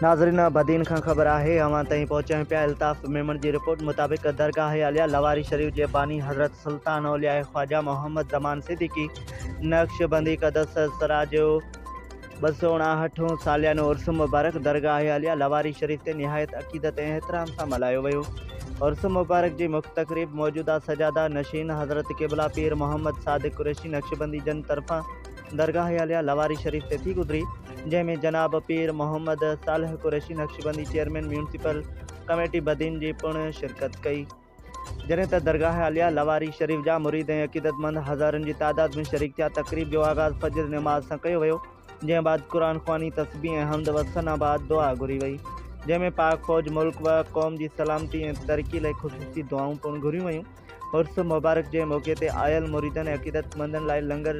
ناظرين بدين کان خبر آهي اوهان تائين پهچائين پيا الطاف ميمڻ جي رپورٽ مطابق درگاهه اعليٰ لواري شريف جي باني حضرت سلطان اولياء خواجه محمد زمان صديقي نقشبندي قدس سرا جو ٻه سؤ اڻاهٺون ساليانو عرس مبارڪ درگاهه اعليٰ لواري شريف تي نهايت عقيدت ۽ احترام سان ملهايو ويو عرس مبارڪ جي مک تقريب موجوده سجاده نشين حضرت قبلا پير محمد صادق قريشي نقشبندي جن طرفان درگاهه عليا لواري شريف تي ٿي گذري جنهن ۾ جناب Pir Muhammad Saleh Qureshi Naqshbandi chairman municipal committee Badin جي پڻ شرڪت ڪئي جڏهن ته درگاهه عليا لواري شريف جا مريد ۽ عقيدتمند هزارن جي تعداد ۾ شريڪ ٿيا تقريب جو آغاز فجر نماز سان ڪيو ويو جنهن بعد قرآن خواني تسبيح ۽ حمد و ثنا بعد دعا گهري وئي جنهن ۾ پاڪ فوج ملڪ و قوم جي سلامتي ۽ ترقي لئي خصوصي دعائون پڻ گهريون ويون. عرس مبارڪ جي موقعي تي آيل مريدن ۽ عقيدتمندن لاء لنگر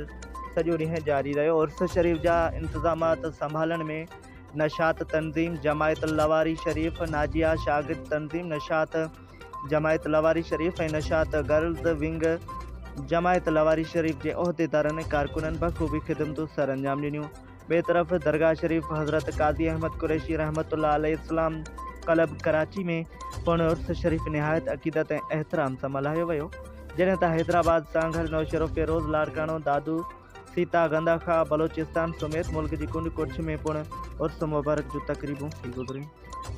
سڄو ڏينهن جاري رهيو عرس شريف جا انتظامات سنڀالڻ ۾ نشاط تنظيم جماعت لواري شريف ناجيا شاگرد تنظيم نشاط جماعت لواري شريف ۽ نشاط گرلز ونگ جماعت لواري شريف جي عهديدارن ۽ ڪارڪنن بخوبي خدمتون سرانجام ڏنيون ٻئي طرف درگاهه شريف حضرت قاضي احمد قريشي رحمة الله عليه اسلام ڪلب ڪراچي ۾ پڻ عرس شريف نهايت عقيدت ۽ احترام سان ملهايو ويو جڏهن ته حيدرآباد سانگهڙ نوشهروفيروز لاڙڪاڻو دادو سيتا گنداخا بلوچستان سميت ملڪ جي ڪنڊ ڪڙڇ ۾ پڻ عرس مبارڪ جون تقريبون ٿي گذريون